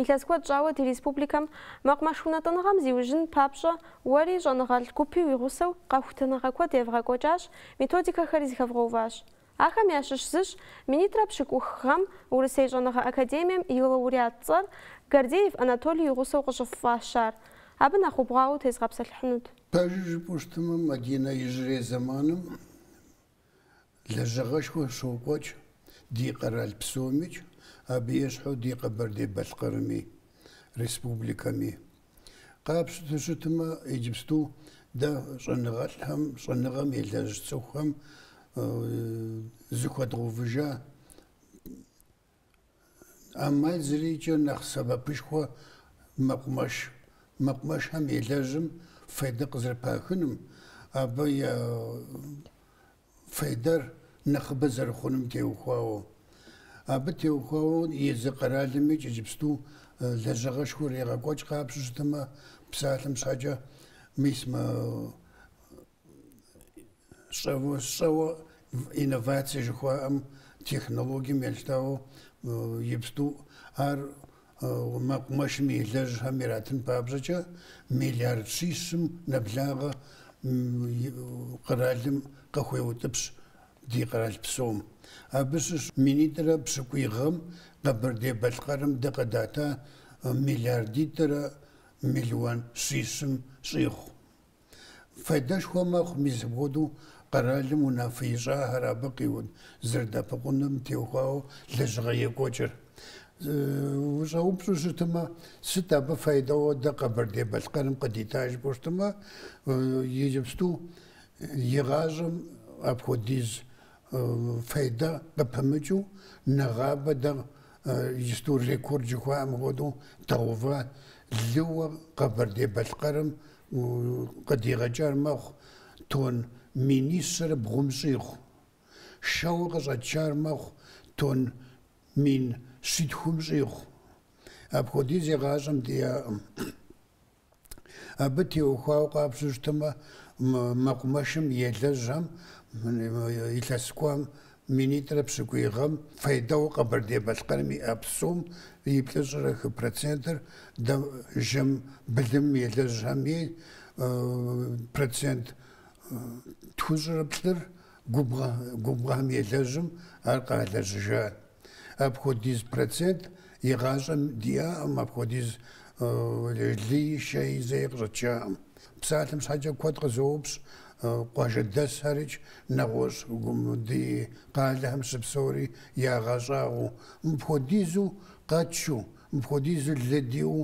Илъэс куэд щӏауэ ди республикэм мэкъумэш унэтӏыныгъэм зиужьын папщӏэ уэри щӏэныгъэлӏ гупи уи гъусэу къэхутэныгъэ куэд евгъэкӏуэкӏащ, методикэхэри зэхэвгъэуващ. Ахэм ящыщ зыщ Минитӏрэ пщыкӏух гъэм Урысей щӏэныгъэ академием и лауреат цӏэр Гордеев Анатолий и гъусэу къыщыффӏащар. Абы нэхъ убгъуауэ утезгъэпсэлъыхьынут. Пэжыр жыпӏэу щытымэ, Мадинэ иужьрей зэманым Лэжьыгъэшхуэ щокӏуэкӏ ди къэрал псомикӏ, абы ещхьу ди Къэбэрдей-Балъкъэрми, республикэми. Къапщту щытмэ, иджыпсту дэ щӏэныгъэлӏхэм, щӏэныгъэм елэжь цӏыхухэм зыхуэдгъэувыжа ӏэмал зэриӏэкӏэ нэхъ сэбэпышхуэ мэкъумэш. Мэкъумэшхэм елэжьым фейдэ къызэрыпахыным, абы и фейдэр нэхъыбэ зэрыхъуным теухуауэ. Абы теухуауэ езы къэралми иджыпсту лэжьыгъэшхуэ ирегъэкӏуэкӏ къапщту щытмэ, псалъэм щхьэкӏэ мис мы щӏэуэ щӏэуэ инновация жыхуаӏэм технологием елъытауэ иджыпсту ар мэкъумэшым елэжьхэм иратын папщӏэкӏэ миллиард щищым нэблагъэ къэралым къыхуеутӏыпщ ди къэрал псом. Абы щыщ минитӏрэ пщыкӏуй гъэм Къэбэрдей-Балъкъэрым дэ къыдата миллиардитӏрэ миллион щищым щӏигъу. Файдэшхуэ мэхъу мис апхуэдэу къэралым унафэ ищӏахэр абы къызэрыдэӏэпыкъунум теухуауэ лэжьыгъэ екӏуэкӏыр. Ущӏэупщӏу щытымэ, сыт абы файдэуэ дэ Къэбэрдей-Балъкъэрым къыдита жыпӏэу щытымэ, иджыпсту игъащӏэм апхуэдиз файдэ къыпымыкӏыу нэгъабэ дэ иджыпсту рекорд жыхуаӏэм хуэдэу дгъэува лыуэ Къэбэрдей-Балъкъэрым Къыдигъэкӏар мэхъу тонн минищэрэ бгъум щӏигъу. Шэуэ къыщӏэтшар мэхъу тонн мин щитхум щӏигъу. Апхуэдиз игъащӏэм диӏакъым. Абы теухуауэ къапщту щытмэ, мэкъумэшым елэжьам, илъэс кӏуам Минитӏрэ пщыкӏуий гъэм фейдэу Къэбэрдей-Балъкъэрым иӏэ псом и плӏыщӏрэ хы процентыр дэ жэм былым елэжьхэми процент тхущӏрэ плӏыр губгъуэ, губгъуэхэм елэжьым ар къалэжьыжа. Апхуэдиз процент игъащӏэм диӏаӏым, апхуэдиз лыи, шэи зэи къыщӏэтшаӏым. Псалъэм щхьэкӏэ куэд къызоупщӏ къуажэдэсхэрыкӏ, нэгъуэщӏу ди къалэхэм щыпсэури ягъэщӏагъуэу, мыпхуэдизу къэтшу, мыпхуэдизу лы диӏэу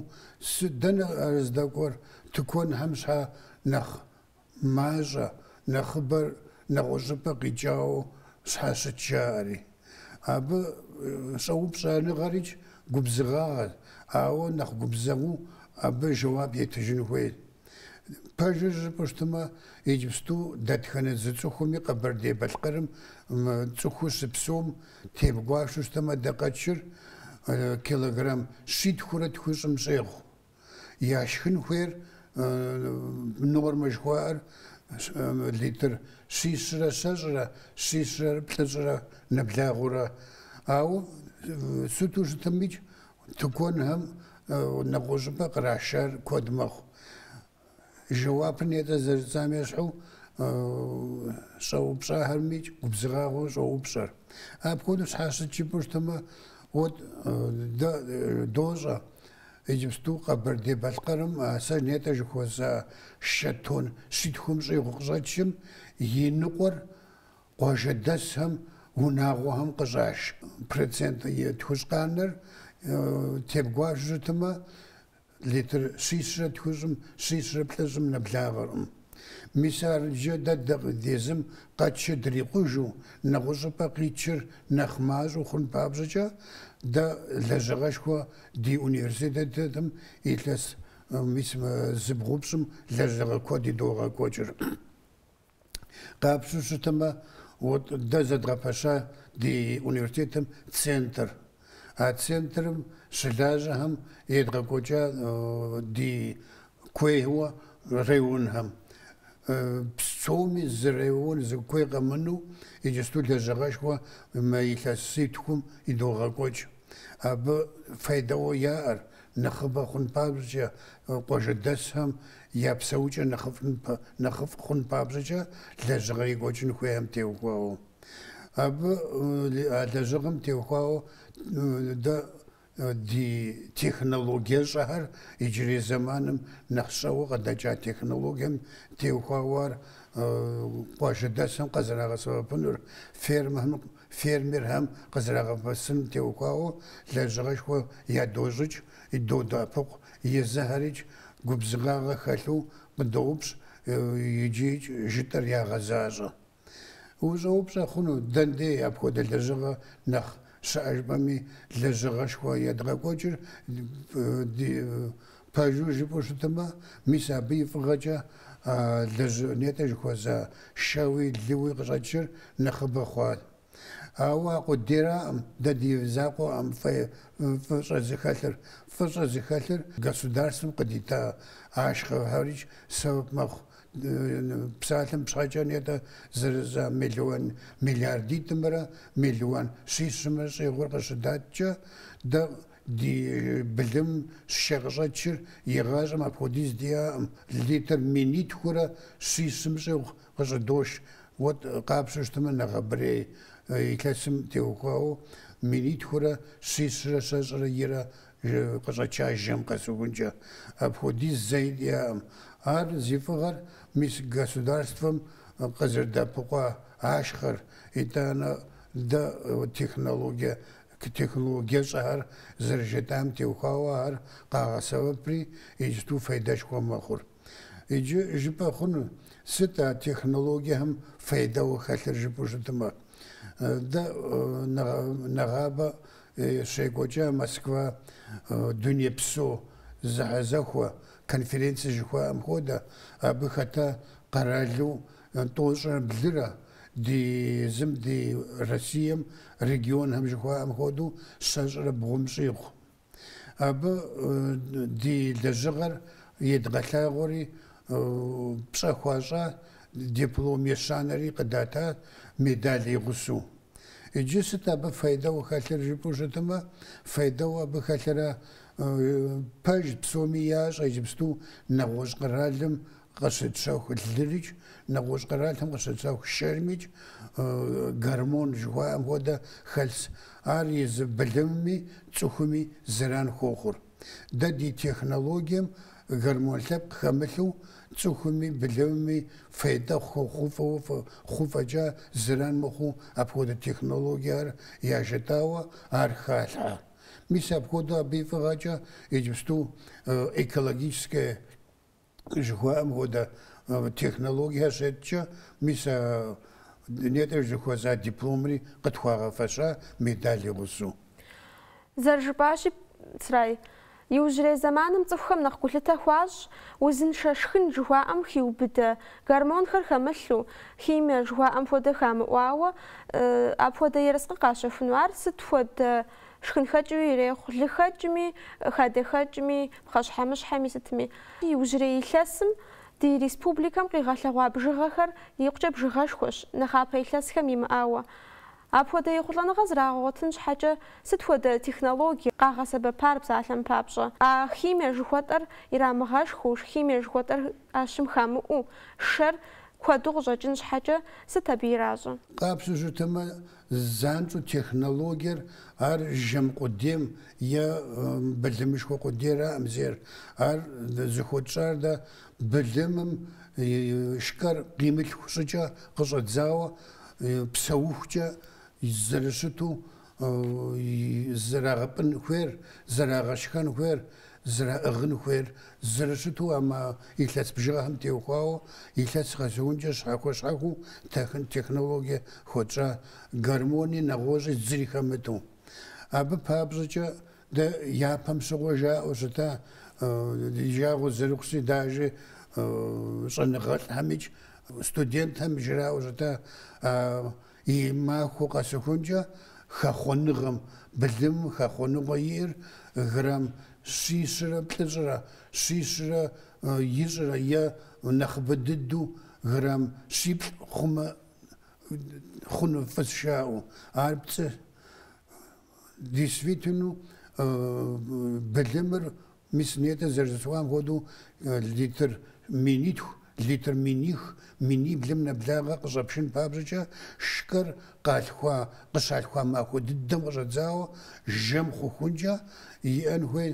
сыт, дэнэ ар здэкӏуэр, тыкуэнхэм щхьэ нэхъ мащӏэ, нэхъыбэр нэгъуэщӏыпӏэ къикӏауэ щхьэ щыт жаӏэри. Абы щӏэупщӏэныгъэрикӏ губзыгъагъэ, ауэ нэхъ губзыгъэу абы жэуап етыжын хуей. Пэжыр жыпӏэу щытмэ, иджыпсту дэтхэнэ зы цӏыхуми Къэбэрдей-Балъкъэрым цӏыхуу щыпсэум тебгуашэу щытмэ, дэ къэтшыр килограмм щитхурэ тхущӏым щӏегъу. яшхын хуейр нормэ жыхуаӏэр литр щищрэ щэщӏрэ, щищрэ плӏыщӏрэ нэблагъэурэ. Ауэ сыту щытымикӏ, тыкуэнхэм нэгъуэщӏыпӏэ кърашар куэд мэхъу. Жэуапыр нетӏэ зэрыжысӏам ещхьу щӏэупщӏахэрэмикӏ губзыгъагъуэу щӏоупщӏэр. Апхуэдэу щхьэ щыт жыпӏэу щытмэ, вот дэ дощӏэ иджыпсту Къэбэрдей-Балъкъэрым а сэ нетӏэ жыхуэсӏа шэ тонн щитхум щӏигъу къыщӏэтшым и ныкъуэр къуажэдэсхэм, унагъуэхэм къыщӏаш процент тхущӏ къанэр тебгуашэу щытмэ, Литр щищрэ тхущӏым щищрэ плӏыщӏым нэблагъэркъым. Мис абыкӏэ дэ дэ езым къэтшым дрикъужу, нэгъущӏыпӏэ къитшыр нэхъ мащӏэу хъун папщӏэкӏэ, дэ лэжьыгъэшхуэ ди университетым илъэс мис зыбгъупщӏым лэжьыгъэ куэд идогъэкӏуэкӏыр. Къапщтэу щытмэ, дэ зэдгъэпэща ди университетым центр. А центрым щылажьэхэм едгъэкӏуэкӏа ди куейуэ районхэм псоми зы район зы куей къэмынэу иджысту лэжьыгъэшхуэ мы илъэситхум идогъэкӏуэкӏ. Абы файдэуэ яӏэр, нэхъыбэ хъун папщӏэкӏэ, къуажэдэсхэм я псэукӏэр нэхъыфӏ хъун папщӏэкӏэ лэжьыгъэ екӏуэкӏын хуейхэм теухуауэ. Абы а лэжьыгъэм теухуауэ дэ ди технологиещӏэхэр иджырей зэманым нэхъ щӏэуэ къыдэкӏа технологием теухуауэ ар къуажэдэсхэм къызэрагъэсэбэпынур, фермэхэм Фермерхэм къызэрагъэсэбэпыным теухуауэ лэжьыгъэшхуэ ядощӏыкӏ, додэӏэпыкъу, езыхэрикӏ губзыгъагъэ хэлъу къыдоупщӏ икӏи жытӏэр ягъэзащӏэ. Ущӏэупщӏэ хъуну, дэндей апхуэдэ лэжьыгъэ нэхъ щыӏэ жыпӏэми, лэжьыгъэшхуэ едгъэкӏуэкӏыр ди Пэжу жыпӏэу щытымэ, мис абы и фӏыгъэкӏэ а лэжьыгъэ нетӏэ жыхуэсӏа шэуи лыуи къыщӏэкӏыр нэхъыбэ хъуат. Ауэ а къудейраӏым дэ ди закъуэӏым фӏы фӏыщӏэ зыхэлъыр. Фӏыщӏэ зыхэлъыр государствэм къыдита ашхъэхэрикӏ сэбэп мэхъу. Псалъэм пщхьэкӏэ нетӏэ зэрыжысӏа миллион миллиардитӏымрэ миллион щищымрэ щӏигъур къыщыдаткӏэ, дэ Ди былым и шэ къыщӏэкӏыр игъащӏэм апхуэдиз диӏаӏым, литр минитхурэ щищым щӏигъу къыщӏыдош. Вот къапщтэу щытмэ, нэгъэбэрей илъэсым теухуауэ минитхурэ щищрэ щэщӏрэ ирэ къыщӏэкӏа жэм къэсыхункӏэ. Апхуэдиз зэи диӏаӏым. Ар зи фӏыгъэр мис государствэм къызэрыддэӏэпыкъуа ашхъэр, итӏанэ дэ технологие Технологие щӏэхэр зэрыжытӏам теухуауэ ар къагъэсэбэпри, иджыту фейдэшхуэ мэхъур. Иджы жыпӏэ хъуну, сыт а технологиехэм фейдэуэ хэлъыр жыпӏэу щытмэ. Дэ нэгъабэ щекӏуэкӏа Москва дунейпсо зэхьэзэхуэ конференция жыхуаӏэм хуэдэ, абы хэта къэралу Тӏощӏэ блырэ, ди езым, ди Россием, регионхэм жыхуаӏэм хуэдэу, щэщӏрэ бгъум щӏигъу. Абы ди лэжьыгъэр едгъэлъагъуэри, пщӏэ хуащӏа, диплом ещанэри къыдата, медаль игъусу. Иджы сыт абы фейдэу хэлъыр жыпӏэу щытымэ, фейдэу абы хэлъырэ, пэж, псоми ящӏэ иджыпсту нэгъуэщӏ къэралым Къыщытщэху лырикӏ, нэгъуэщӏ къэралым къыщытщэху шэрмикӏ, гормон жыхуаӏэм хуэдэ хэлъщ. Ар езы былымми цӏыхуми зэран хуохъур. Дэ ди технологием гормон лъэпкъ хэмылъу цӏыхуми былымми фейдэ хъу фӏэкӏа зэран мыхъуу апхуэдэ технологиехэр яжетӏауэ ар халъхьэ. Мис апхуэдэу абы и фӏыгъэкӏэ иджыпсту экологическая жыхуаӏэм хуэдэ технологиехэр счеткӏэ, мис а нетӏэ жыхуэсӏа дипломри къытхуагъэфэща медаль игъусэу. Зэрыжыпӏащи, Црай, иужьрей зэманым цӏыхухэм нэхъ гулъытэ хуащӏ, узыншэ шхын жыхуаӏэм хиубыдэ, гормонхэр хэмылъу, химие жыхуаӏэм хуэдэ хамыӏуауэ, апхуэдэ ерыскъы къащэхуну ар сыт хуэдэ Шхынхэкӏыуи ирехъу, лыхэкӏми, хадэхэкӏми, пхъэщхьэмыщхьэми, сытми. Иужьрей илъэсым ди республикэм къигъэлъэгъуа бжыгъэхэр икъукӏэ бжыгъэшхуэщ, нэхъапэ илъэсхэм имыӏауэ. Апхуэдэ ехъулӏэныгъэ зрагъэгъуэтын щхьэкӏэ сыт хуэдэ технологие къагъэсэбэпар псалъэм папщӏэ? А химие жыхуэтӏэр ирамыгъэшхыу, химие жыхуэтӏэр ӏэщым хамыӏуу, шэр куэду къыщӏэкӏын щхьэкӏэ сыт абы иращӏэ? Къабзэу жытӏэмэ, Занщӏэу технологиер ар жэм къудейм е былымышхуэ къудейраӏым зейр. Ар зыхуэтщӏар дэ былымым шкэр къимылъху щӏыкӏэ къыщӏэдзауэ псэухукӏэ зэрыщыту зэрагъэпӏын хуейр, зэрагъэшхэн хуейр, зэраӏыгъын хуейр зэрыщыту а мэ илъэс бжыгъэхэм теухуауэ илъэс къэсыхункӏэ щхьэхуэ-щхьэхуэу техын технологие хуэтщӏа гормони нэгъуэщӏи зыри хэмыту. Абы папщӏэкӏэ дэ япэм щыгъуэ жаӏэу щыта ди жагъуэ зэрыхъущи даже щӏэныгъэлӏхэм икӏ студентхэм жраӏэу щыта а И махуэ къэсыхункӏэ хэхъуэныгъэм былым хэхъуэныгъэу иӏэр грамм щищрэ плӏыщӏрэ щищрэ ищӏрэ е нэхъыбэ дыдэу грамм щиплӏ хъумэ хъуну фӏыщ жаӏэу. Ар пцӏы Действительно, былымыр мис нетӏэ зэрыжысӏам хуэдэу литр минитху, литр миних, миниблым нэблагъэ къыщӏэпшын папщӏэкӏэ шкэр къалъхуа, къыщалъхуа махуэ дыдэм къыщӏэдзауэ жэм хъухункӏэ иӏэн хуей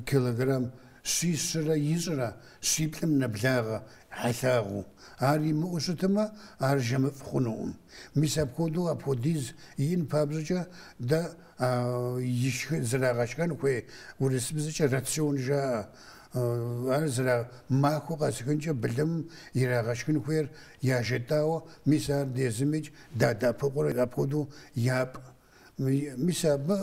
килограмм щищрэ ищӏрэ щиплӏым нэблагъэ хьэлъагъыу. Ар имыӏэу щытмэ, ар жэмыфӏ хъунукъым. Мис апхуэдэу апхуэдиз иӏэн папщӏэкӏэ дэ а ишхэ зэрагъэшхэн хуей урысыбзэкӏэ рацион жаӏэ. Ар зэра махуэ къэсыхункӏэ былымым ирагъэшхын хуейр яжетӏауэ, мис ар дэ езымикӏ дадэӏэпыкъуурэ апхуэдэу япӏ. Мис абы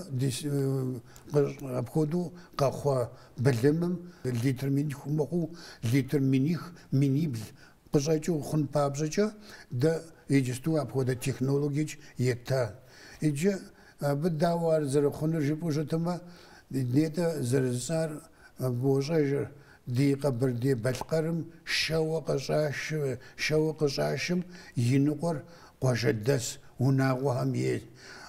апхуэдэу къэхъуа былымым литр минитху мыхъуу, литр миних, минибл къыщӏэкӏыу хъун папщӏэкӏэ, дэ иджысту апхуэдэ технологиеикӏ етта. Иджы абы дауэ ар зэрыхъунур жыпӏэу щытмэ, нетӏэ зэрыжысӏар бощӏэжыр. Ди Къэбэрдей-Балъкъэрым шэуэ къыщӏашым и ныкъуэр къуажэдэс унагъуэхэм ей.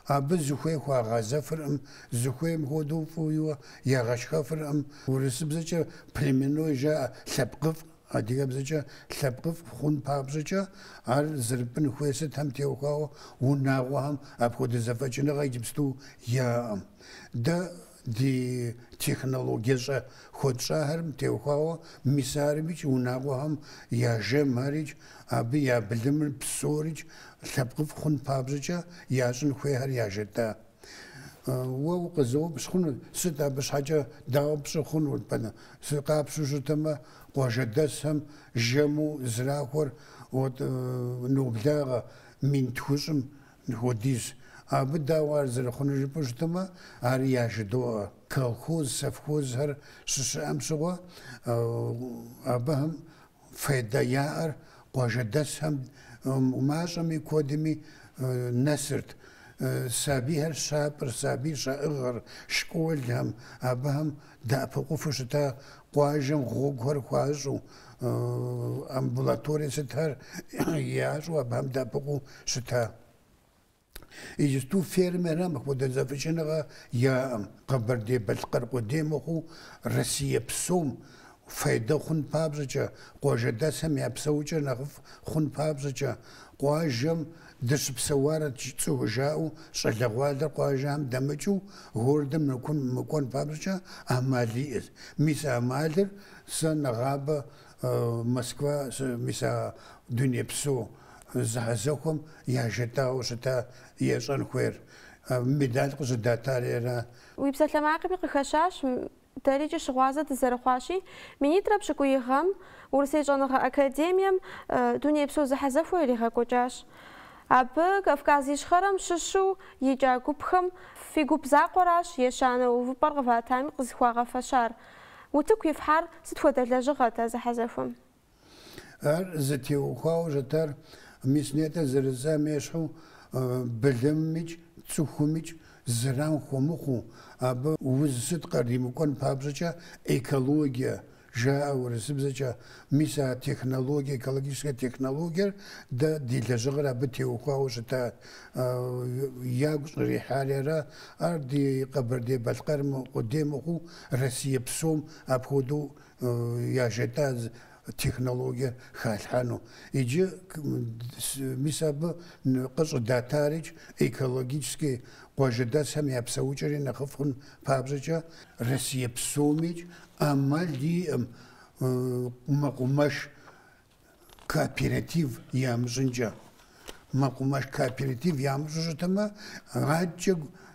Абы зыхуей хуагъэзэфыркъым, зыхуейм хуэдэу фӏыуэ ягъэшхэфыркъым. Урысыбзэкӏэ племенной жаӏэ, лъэпкъыфӏ, адыгэбзэкӏэ лъэпкъыфӏ хъун папщӏэкӏэ, ар зэрыпӏын хуей сытхэм теухуауэ унагъуэхэм апхуэдэ зэфӏэкӏыныгъэ иджыпсту яӏэкъым. Дэ Ди технологиещӏэ хуэтщӏахэрым теухуауэ мис армикӏ унагъуэхэм я жэмхэрикӏ, абы я былымыр псорикӏ лъэпкъыфӏ хъун папщӏэкӏэ ящӏын хуейхэр яжетӏа. Уэ укъызэупщӏ хъунущ, сыт абы щхьэкӏэ, дауэ пщӏы хъунут пӏэрэ? Къапщтэу щытмэ, къуажэдэсхэм жэму зэрахуэр от ноблагъэ мин тхущӏым хуэдизщ. Абы дауэ ар зэрыхъунур жыпӏэу щытмэ, ари яжыдоӏэ. Колхоз, совхозхэр щыщыӏэм щыгъуэ, абыхэм фейдэ яӏэр къуажэдэсхэм мащӏэми куэдми нэсырт. Сабийхэр щапӏэр, сабий щаӏыгъыр, школхэм, абыхэм Дэӏэпыкъуфу щыта къуажэм гъуэгухэр хуащӏу, амбулаторие сытхэр ящӏу абыхэм дэӏэпыкъуу щыта. Иджысту фермерхэм апхуэдэ зэфӏэкӏыныгъэ яӏэкъым, Къэбэрдей-Балъкъэр къудей мыхъуу, Россие псом фейдэ хъун папщӏэкӏэ, къуажэдэсхэм я псэукӏэр нэхъыфӏ хъун папщӏэкӏэ, къуажэм Дыщыпсэуарэт цӏыху жаӏэу щӏалэгъуалэр къуажэм дэмыкӏыу гордэм нэкун мыкӏуэн папщӏэкӏэ ӏэмал иӏэт. Мис а ӏэмалыр сэ нэгъабэ Москва сы, мис а дунейпсо зэхьэзэхуэм яжетӏауэ щыта ящӏэн хуейр, медаль къыщӏыдатари ара? Уи псалъэмакъми къыхэщащ Дэрикӏ щыгъуазэ дызэрыхъуащи, Минитӏрэ пщыкӏуий гъэм Урысей щӏэныгъэ академием дунейпсо зэхьэзэхуэ иригъэкӏуэкӏащ. Абы Кавказ Ищхъэрэм щыщу икӏа гупхэм фи гуп закъуэращ ещанэ увыпӏэр къыватами къызыхуагъэфэщар. Утыку ифхьар сыт хуэдэ лэжьыгъэт а зэхьэзэхуэм? Ар зытеухуауэ щытар мис нетӏэ зэрыжысӏам ещхьу былымымикӏ цӏыхумикӏ зэран хуэмыхъуу, абы уз сыт къримыкӏуэн папщӏэкӏэ экологие жаӏэ урысыбзэкӏэ, мис а технологие, экологическэ технологиер дэ ди лэжьыгъэр абы теухуауэ щытат, ягу щӏрихьари ара, ар ди Къэбэрдей-Балъкъэр къудей мыхъуу Россие псом апхуэдэу яжетӏа технологие халъхьэну. Иджы мис абы къыщӏыдатарикӏ экологически къуажэдэсхэм я псэукӏэри нэхъыфӏ хъун папщӏэкӏэ, Россие псомикӏ ӏэмал иӏэм мэкъумэш кооператив ямыщӏынкӏэ. Мэкъумэш кооператив ямыщӏу щытмэ, адэкӏэ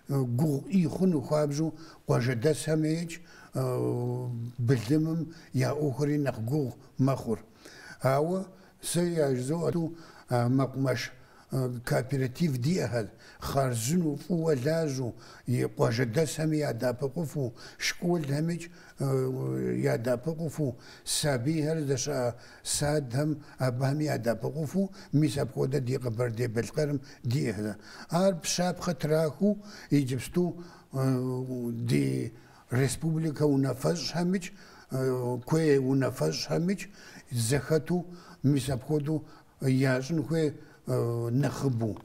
гугъу ӏей хъуну хуабжьу къуажэдэсхэмикӏ былымым я ӏуэхури нэхъ гугъу мэхъур. Ауэ сэ яжызоӏэ тӏу мэкъумэш Кооператив диӏэхэр хъарзынэу, фӏыуэ лажьэу, и къуажэдэсхэми ядэӏэпыкъуфу, школхэмикӏ ядэӏэпыкъуфу, сабийхэр здэщыӏэ садхэм абыхэми ядэӏэпыкъуфу, мис апхуэдэ ди Къэбэрдей-Балъкъэрым диӏэхэр. Абы щапхъэ трахыу иджыпсту ди республикэ унафэщӏхэмикӏ, куей унафэщӏхэмикӏ зэхэту мис апхуэдэу ящӏын хуей нэхъыбэу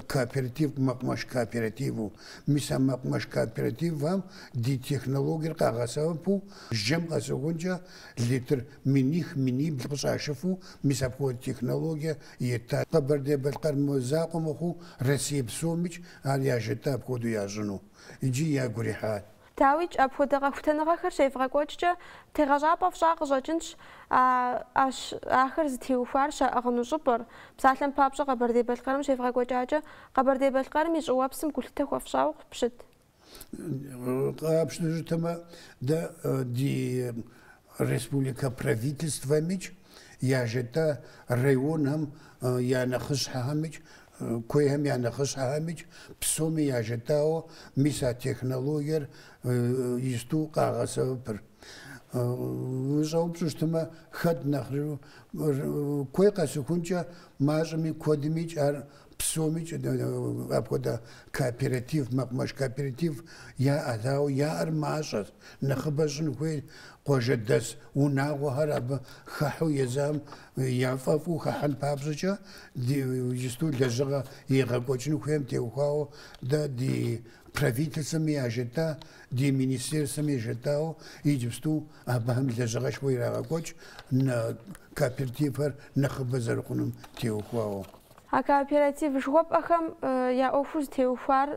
кооператив, мэкъумэш кооперативу. Мис а мэкъумэш кооперативхэм ди технологиер къагъэсэбэпу жэм къэсыхункӏэ литр миних, минибл къыщӏашыфу мис апхуэдэ технологие етта. Къэбэрдей-Балъкъэрым и закъуэ мыхъуу Россие псомикӏ ар яжетӏа апхуэдэу ящӏыну икӏи ягу ирихьат. Дауикӏ, апхуэдэ къэхутэныгъэхэр щевгъэкӏуэкӏкӏэ, тегъэщӏапӏэ фщӏа къыщӏэкӏынщ, ӏэщ ахэр зытеухуар щаӏыгъыну щӏыпӏэр. Псалъэм папщӏэ, Къэбэрдей-Балъкъэрым щевгъэкӏуэкӏакӏэ, Къэбэрдей-Балъкъэрым и щӏыуэпсым гулъытэ хуэфщӏауэ къыпщыт. Къапщтэну щытмэ, дэ ди республикэ правительствэмикӏ, яжетӏэ районхэм я нэхъыщхьэхэмикӏ Куейхэм я нэхъыщхьэхэмикӏ псоми яжетӏауэ мис а технологиер ищту къагъэсэбэпыр. Ущӏэупщӏу щытмэ, хэт нэхъыжу куей къэсыхункӏэ мащӏэми куэдымикӏ ар псомикӏ апхуэдэ кооператив, мэкъумэш кооператив яӏэт, ауэ яӏэр мащӏэщ, нэхъыбэ щӏын хуей къуажэдэс унагъуэхэр абы хыхьу езам яфӏэфӏу хыхьэн папщӏэкӏэ, ди иджысту лэжьыгъэ егъэкӏуэкӏын хуейм теухуауэ дэ ди Правительствэми яжетӏа, ди Министерствэми яжетӏауэ иджыпсту абыхэм лэжьыгъэшхуэ ирагъэкӏуэкӏ кооперативхэр нэхъыбэ зэрыхъунум теухуауэ. А кооператив жыхуэпӏэхэм я ӏуэхур зытеухуар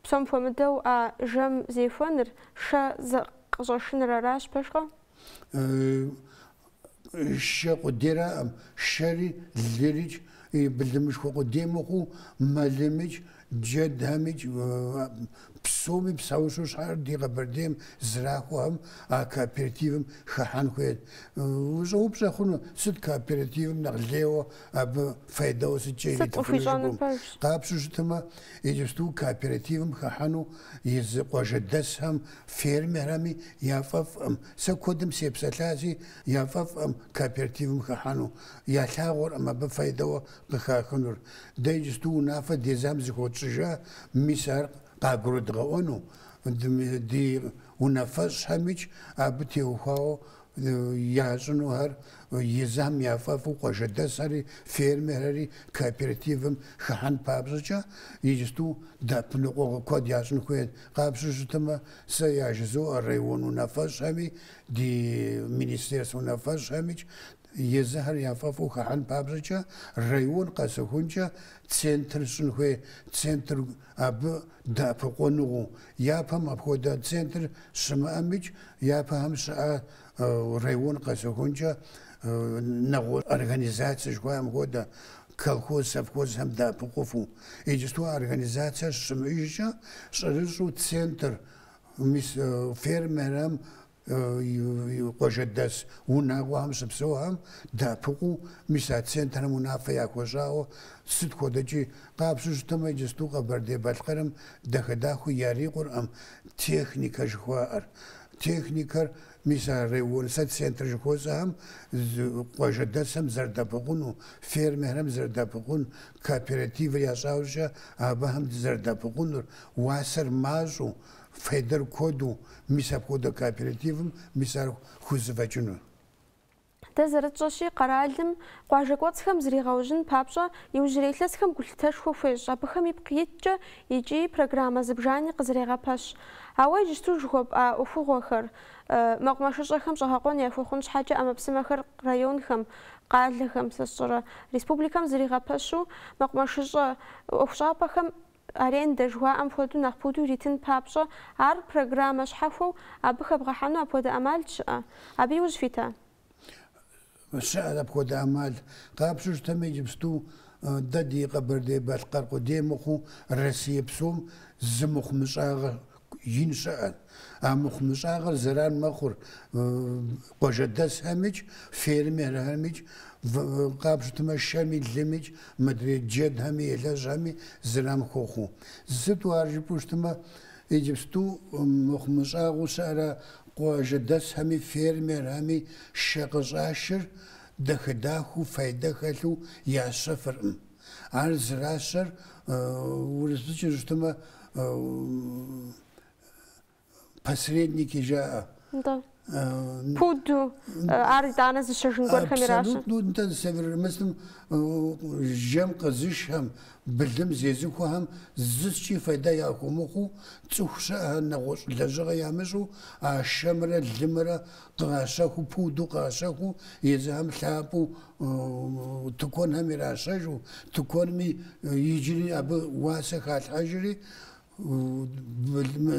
псом хуэмыдэу а жэм зехуэныр, шэ зэкъыщӏэшыныр аращ, пэжкъэ? Шэ къудейраӏым, шэри, лырикӏ, и былымышхуэ къудей мыхъуу, мэлымикӏ, джэдхэмикӏ, псоми псэущхьэу щыӏэр ди Къэбэрдейм зэрахуэхэм а кооперативым хыхьэн хуейт. Ущӏэупщӏэ хъуну, сыт кооперативым нэхъ лейуэ, абы фейдэуэ сыткӏэ иритыфыну жыпӏэу? Къапщу щытымэ, иджыпсту кооперативым хыхьэну езы къуажэдэсхэм фермерхэми яфӏэфӏӏым, сэ куэдым сепсэлъащи, яфӏэфӏӏым кооперативым хыхьэну, ялъагъуркъым абы фейдэуэ къыхахынур. Дэ иджысту унафэ дезам зыхуэтщӏыжа, мис ар къагурыдгъэӏуэну, ди унафэщӏхэмикӏ абы теухуауэ ящӏынухэр езам яфӏэфӏу къуажэдэсхэри, фермерхэри кооперативым хыхьэн папщӏэкӏэ иджысту дэӏэпыкъуныгъэ куэд ящӏын хуейт. Къапщу щытмэ, сэ яжызоӏэ район унафэщӏхэми, ди министерствэ унафэщӏхэмикӏ езыхэр яфӏэфӏу хыхьэн папщӏэкӏэ район къэсыхункӏэ центр щӏын хуей, центр абы дэӏэпыкъуныгъэу, япэм апхуэдэ центр щымыӏэмикӏ, япэхэм щыӏа район къэсыхункӏэ нэгъуэ организаци жыхуаӏэм хуэдэ, колхоз, совхозхэм дэӏэпыкъуфу. Иджысту а организацэ щымыӏэжкӏэ, щӏэрыщӏэу центр, мис фермерхэм Къуажэдэс унагъуэхэм щыпсэухэм дэӏэпыкъуу, мис а центрхэм унафэ яхуэщӏауэ сыт хуэдэкӏи къапщу щытмэ, иджысту Къэбэрдей-Балъкъэрым дахэ-дахэу ярикъуркъым техникэ жыхуаӏэр. Техникэр, мис а район, сэ центр жыхуэсӏэхэм къуажэдэсхэм зэрыдэӏэпыкъуну, фермерхэм зэрыдэӏэпыкъун, кооперативыр ящӏа иужькӏэ абыхэм зэрыдэӏэпыкъунур, уасэр мащӏэу, Фейдэр куэду, мис апхуэдэ кооперативым мис ар хузэфӏэкӏыну. Дэ зэрытщӏэщи, къэралым, къуажэ кӏуэцӏхэм зригъэужьын папщӏэ, иужьрей илъэсхэм гулъытэшхуэ хуещӏ, абыхэм ипкъ иткӏэ икӏи программэ зыбжани къызэрегъэпэщ. Ауэ иджыпсту жыхуэпӏа ӏуэхугъуэхэр, мэкъумэшыщӏэхэм щӏэгъэкъуэн яхуэхъун щхьэкӏэ ӏэмэпсымэхэр районхэм, къалэхэм, сэ сщӏэрэ, республикэм зэригъэпэщу, мэкъумэшыщӏэ ӏуэхущӏапӏэхэм арендэ жыхуаӏэм хуэдэу нэхъ пуду иритын папщӏэ, ар программэ щхьэхуэу абы хэбгъэхьэну апхуэдэ ӏэмал щыӏэ? Абы и ужь фита? Щыӏэщ апхуэдэ ӏэмал. Къапщтэу щытмэ, иджыпсту дэ ди Къэбэрдей-Балъкъэр къудей мыхъуу, Россие псом зы мыхъумыщӏагъэ ин щыӏэ. А мыхъумыщӏагъэр зэран мэхъур къуажэдэсхэмикӏ, фермерхэмикӏ, къапщтэмэ шэми, лымикӏ, мыдрей джэдхэми, елэжьхэми зэран хуохъу. Сыту ар жыпӏэу щытмэ, иджыпсту мыхъумыщӏагъэу щыӏэрэ къуажэдэсхэми, фермерхэми шэ къыщӏашыр дахэ-дахэу, файдэ хэлъу ящэфыркъым. Ар зыращэр урысыбзэкӏэ жыпӏэу щытмэ посредники жаӏэ. Да. Пуду, ар итӏанэ зыщэжын гуэрхэм иращэ. Абсолютно, нтӏэ зысевырмысым жэм къызышхэм, былым зезыхуэхэм зыскӏи фейдэ яхуэмыхъуу, цӏыху щыӏэхэр нэгъуэщӏ лэжьыгъэ ямыщӏу а шэмрэ лымрэ къащэхуу, пуду къащэхуу, езыхэм лъапӏэу тыкуэнхэм иращэжу, тыкуэнми иджыри абы уасэ халъхьэжри,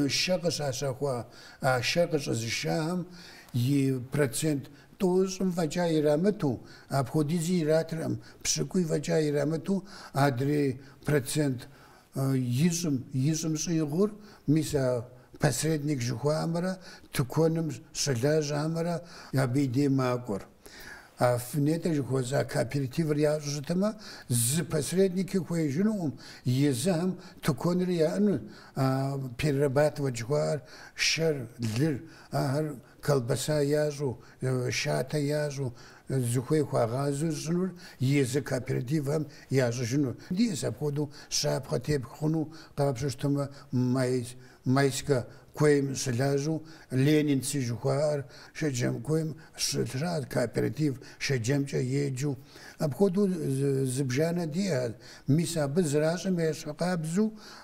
шэ къыщащэхуа, а шэр къыщӏэзышахэм и процент тӏощӏым фӏэкӏа ирамыту, апхуэдизи иратыркъым, пщыкӏуий фӏэкӏа ирамыту, адрей процент Ищӏым, ищӏым щӏигъур, мис а посредник жыхуаӏэмрэ тыкуэным щылажьэмрэ абы и дей макӏуэр. А нетӏэ жыхуэсӏа кооперативыр ящӏу щытмэ, зы посредники хуеижынукъым, езыхэм тыкуэнри яӏэну, а перерабатывать жыхуаӏэр, шэр, лыр, ахэр колбаса ящӏу, шатэ ящӏу, зыхуей хуагъазэу щӏынур езы кооперативхэм ящӏыжыну. Диӏэщ апхуэдэу щапхъэ тепх хъуну къапщтэу щытмэ, Майскэ куейм щылажьэу Ленинцы жыхуаӏэр Шэджэм куейм щыщыӏэт кооператив Шэджэмкӏэ еджэу. Апхуэдэу зыбжанэ диӏэт, мис абы зэращӏым ещхьыркъабзэу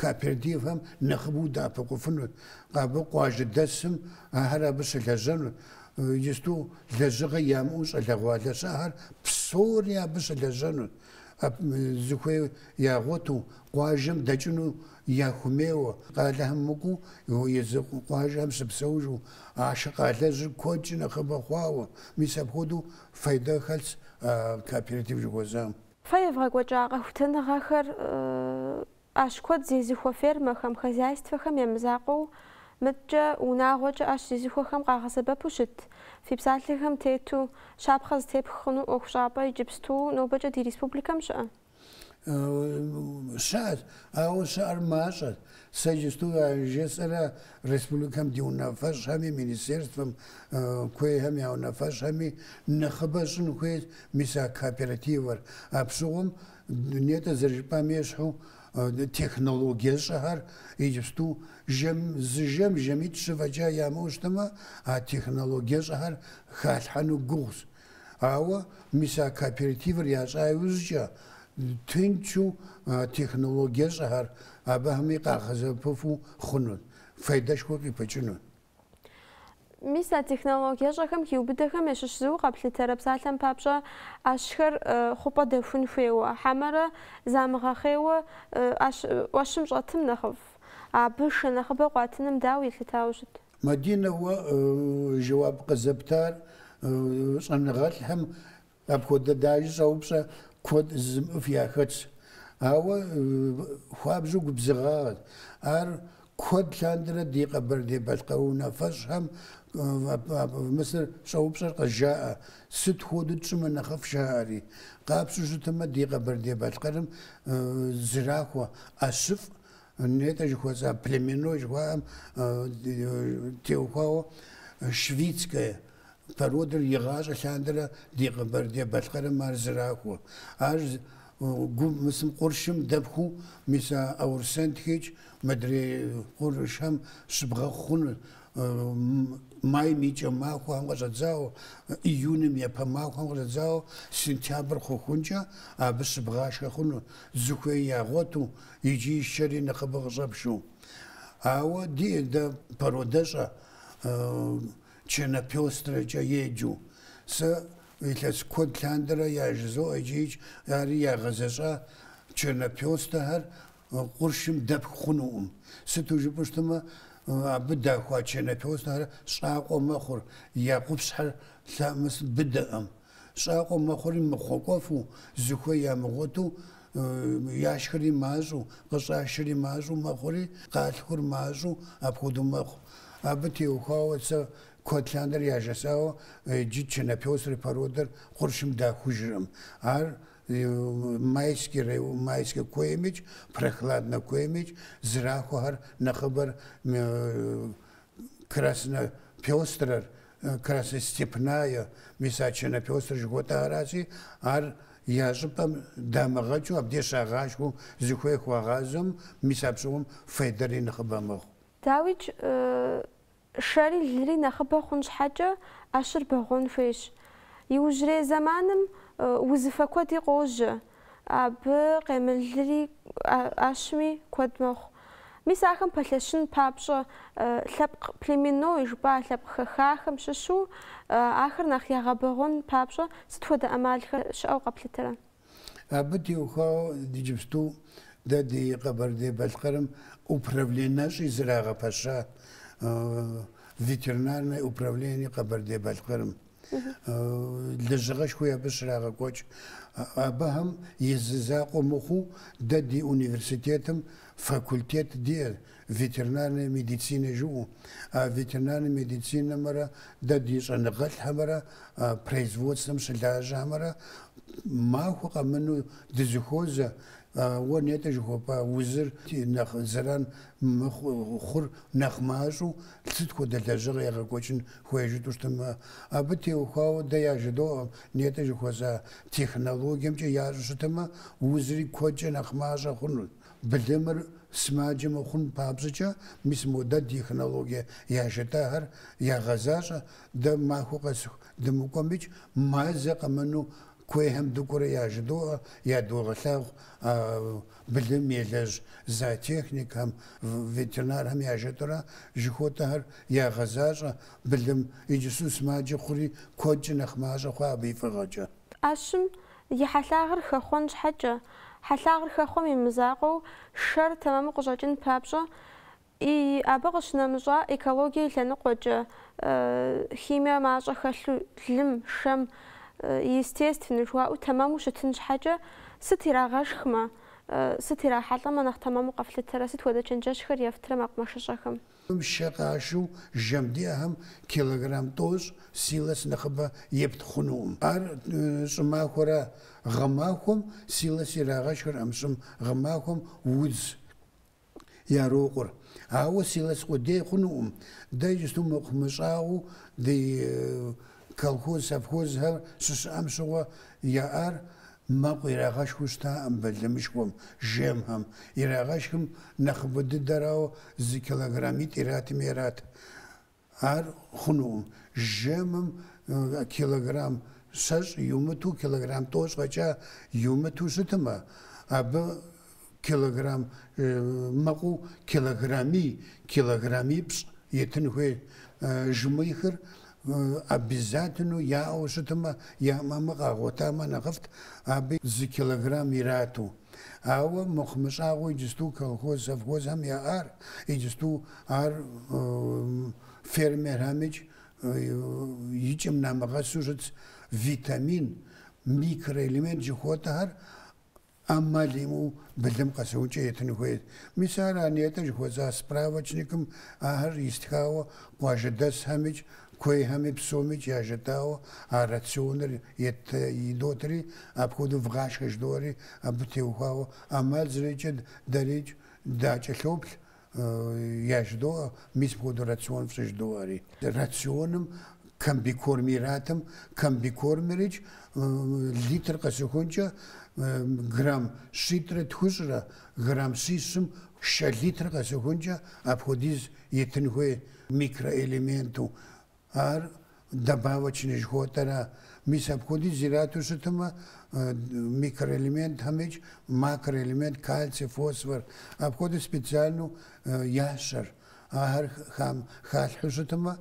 кооперативхэм нэхъыбэу удэӏэпыкъуфынут, абы къуажэдэсым ахэр абы щылэжьэнут, иджысту лэжьыгъэ ямыӏэу щӏалэгъуалэ щыӏэхэр псори абы щылэжьэнут, зыхуей ягъуэту къуажэм дэкӏыну яхумейуэ, къалэхэм мыкӏуу езы къуажэхэм щыпсэужу ахъшэ къалэжьыр куэдкӏи нэхъыбэ хъуауэ, мис апхуэдэу фейдэ хэлъщ а кооператив жыхуэсӏам. Фэ евгъэкӏуэкӏа къэхутэныгъэхэр ӏэщ куэд зезыхуэ фермэхэм, хозяйствэхэм я мызакъуэу мыдэкӏэ, унагъуэкӏэ ӏэщ зезыхуэхэм къагъэсэбэпу щыт, фи псалъэхэм тету, щапхъэ зытепх хъуну ӏуэхущӏапӏэ иджыпсту нобэкӏэ ди республикэм щыӏэ? Щыӏэт, ауэ щыӏэр мащӏэт. Сэ иджысту яжесӏэрэ республикэм ди унафэщӏхэми, министерствэм куейхэм я унафэщӏхэми нэхъыбэ щӏын хуейт, мис а кооперативыр. Абщыгъуэм нетӏэ зэрыжыпӏам ещхьу технологиещӏэхэр иджыпсту жэм, зы жэм жэмитӏ-щы фӏэкӏа ямыӏэу щытмэ, а технологиещӏэхэр халъхьэну гугъущ. Ауэ, мис а кооперативыр ящӏа иужькӏэ, тынчу а технологиещӏэхэр абыхэми къагъэсэбэпыфу хъунут, файдэшхуэ къыпыкӏынут. Мис а технологиещӏэхэм хиубыдэхэм ящыщ зыу къэплъытэрэ псалъэм папщӏэ ӏэщхэр хъупӏэ дэхун хуейуэ, хьэмэрэ замыгъэхъейуэ ӏэщ ӏуэщым щӏэтым нэхъыфӏ? Абы шэ нэхъыбэ къуатыным дауэ елъытауэ щыт? Мадинэ, уэ жэуап къызэптар щӏэныгъэлӏхэм апхуэдэ даже щӏэупщӏэ куэд жызымыӏэф яхэтщ. Ауэ хуабжьу губзыгъагъэт. Ар куэд лъандэрэ ди Къэбэрдей-Балъкъэр унафэщӏхэм мис ар щӏэупщӏэр къызжаӏэ, сыт хуэдэу тщӏымэ нэхъыфӏ жаӏэри. Къапщтэу щытмэ, ди Къэбэрдей-Балъкъэрым зэрахуэ ӏэщыфӏ Нетӏэ жыхуэсӏа племено жыхуаӏэм теухуауэ швицкая породэр игъащӏэ лъандэрэ ди Къэбэрдей-Балъкъэрым ар зэрахуэ. Ар гум мысым къуршым дэпхуу мис а Аурсентх икӏи мыдрей къуршхэм щыбгъэхъу хъуну. Майм и кӏэ махуэхэм къыщӏэдзауэ, июным япэ махуэхэм къыщӏэдзауэ сентябрь хъухункӏэ абы щыбгъашхэ хъуну, зыхуей ягъуэту, иджы и шэри нэхъыбэ къыщӏэпшу. Ауэ диӏэ дэ породэщӏэ черно-пёстрэкӏэ еджэу. Сэ илъэс куэд лъандэрэ яжызоӏэ иджыикӏ, ари ягъэзэщӏа черно-пёстрэхэр къуршым дэпху хъунукъым. Сыту жыпӏэу щытмэ, абы дахуа черно-пёстрэхэр щӏакъуэ мэхъур, я къупщхьэр лъэмыс быдэкъым. Щӏакъуэ мэхъури мыхъуэкӏуэфу, зыхуей ямыгъуэту, яшхри мащӏэу, къыщӏашри мащӏэу мэхъури, къалъхур мащӏэу апхуэдэу мэхъу. Абы теухуауэ сэ куэд лъандэрэ яжесӏауэ иджы чернопёстрэ породэр къуршым дахужыркъым. Ар Майский рай, Майскэ куеймикӏ, Прохладнэ куеймикӏ, зрахуэхэр нэхъыбэр краснопёстрэр, красная степная, мис а чернопёстрэ жыхуэтӏаращи, ар я щӏыпӏэм дамыгъэкӏыу абдеж щагъашхэу зыхуей хуагъазэм, мис апщыгъуэм фейдэри нэхъыбэ мэхъу. Дауикӏ, шэри лыри нэхъыбэ хъун щхьэкӏэ, ӏэщыр бэгъуэн хуейщ. Иужьрей зэманым узыфэ куэди къожьэ, Абы къемылри ӏэщми куэд мэхъу. Мис ахэм пэлъэщын папщӏэ, лъэпкъ племенной жыпӏа лъэпкъ хэхахэм щыщу ахэр нэхъ ягъэбэгъуэн папщӏэ сыт хуэдэ ӏэмалхэр щыӏэу къэплъытэрэ? Абы теухуауэ иджыпсту дэ ди Къэбэрдей-Балъкъэрым управленэщӏи зэрагъэпэща, Ветеринарное управление Къэбэрдей-Балъкъэрым. лэжьыгъэшхуи абы щрагъэкӏуэкӏ. Абыхэм и закъуэ мыхъуу, дэ ди университетым факультет диӏэ, ветеринарная медицинэ жиӏэу. А ветеринарнэ медицинэмрэ дэ ди щӏэныгъэлӏхэмрэ производствэм щылажьэхэмрэ махуэ къэмыну дызыхуозэ, уэ нетӏэ жыхуэпӏа узыр нэхъ зэран хъур нэхъ мащӏэу сыт хуэдэ лэжьыгъэ егъэкӏуэкӏын хуей жытӏэу щытымэ, абы теухуауэ дэ яжыдоӏэ нетӏэ жыхуэсӏа технологиемкӏэ ящӏу щытымэ, узри куэдкӏэ нэхъ мащӏэ хъунут. Былымыр сымаджэ мыхъун папщӏыкӏэ, мис мо дэ технологие яжетӏэхэр ягъэзащӏэ, дэ махуэ къэсыху дымыкӏуэмикӏ, мазэ къэмыну куейхэм дыкӏуэурэ яжыдоӏэ, ядогъэлъагъу а былым елэжь зоотехникхэм, ветеринархэм яжетӏэурэ жыхуэтӏэхэр ягъэзащӏэ былым, иджысу сымаджэ хъури куэдкӏэ нэхъ мащӏэ хъуа абы и фӏыгъэкӏэ. Ӏэщым и хьэлъагъыр хэхъуэн щхьэкӏэ, хьэлъагъыр хэхъуэм и мызакъуэу шэр тэмэму къыщӏэкӏын папщӏэ, Ii, Абы къыщынэмыщӏа экологие и лъэныкъуэкӏэ, химие мащӏэ хэлъу лым, шэм, естественнэ жыхуаӏэу тэмэму щытын щхьэкӏэ, сыт ирагъэшхмэ, сыт ирахьэлӏэмэ нэхъ тэмэму къэфлъытэрэ, сыт хуэдэ чэнджэщхэр ефтрэ мэкъумэшыщӏэхэм? Ii, Шэ къашу жэм диӏэхэм килограмм тӏощӏ силос нэхъыбэ епт хъунукъым. Ар щӏымахуэра? Гъэмахуэм силос ирагъэшхыркъым, щӏым, гъэмахуэм удз ярокъур. Ауэ силос къудей хъунукъым, дэ иджысту мыхъумыщӏагъэу ди колхоз-совхозхэр щыщыӏэм щыгъуэ яӏар мэкъу ирагъэшхыу щытакъым былымышхуэм, жэмхэм. Ирагъэшхым нэхъыбэ дыдэрауэ зы килограммитӏ иратми ират. Ар хъунукъым. Жэмым килограмм щэщӏ иумыту, килограмм тӏощӏ фӏэкӏа иумыту щытмэ, абы килограмм мэкъу килограммий, килограммипщӏ етын хуей. Жмыхыр обязательно яӏэу щытмэ, ямыӏэмэ къагъуэтамэ нэхъыфӏт, абы зы килограмм ирату. Ауэ мыхъумыщӏагъэу иджысту колхоз-совхозхэм яӏар, иджысту ар фермерхэмикӏ и кӏэм намыгъэсу щытщ витамин, микроэлемент жыхуэтӏэхэр ӏэмал имыӏэу былым къэсыхункӏэ етын хуейт. Мис ара нетӏэ жыхуэсӏа справочникым ахэр истхауэ къуажэдэсхэмикӏ Куейхэми псомикӏ яжетӏауэ а рационыр ет идотри, апхуэдэу вгъашхэ жыдоӏэри абы теухуауэ ӏэмал зэриӏэкӏэ дэрикӏ дакӏэлъоплъ, яжыдоӏэ, мис мыпхуэдэу рацион фщӏы жыдоӏэри. Рационым комбикорм иратым, комбикормырикӏ литр къэсыхункӏэ грамм щитӏрэ тхущӏрэ, грамм щищым шэ литр къэсыхункӏэ апхуэдиз етын хуей. микроэлементу, ар добавочный жыхуэтӏэра. Мис апхуэдиз ирату щытмэ, микроэлементхэмикӏ макроэлемент, кальций, фосфор, апхуэдэ специальну ящэр. Ахэр халъхьу щытмэ,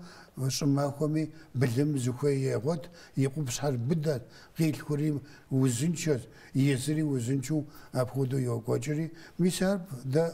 щӏымахуэми былым зыхуей егъуэт, и къупщхьэр быдэ, къилъхури узыншэ, езыри узыншэу апхуэдэу йокӏуэкӏри. Мис ар дэ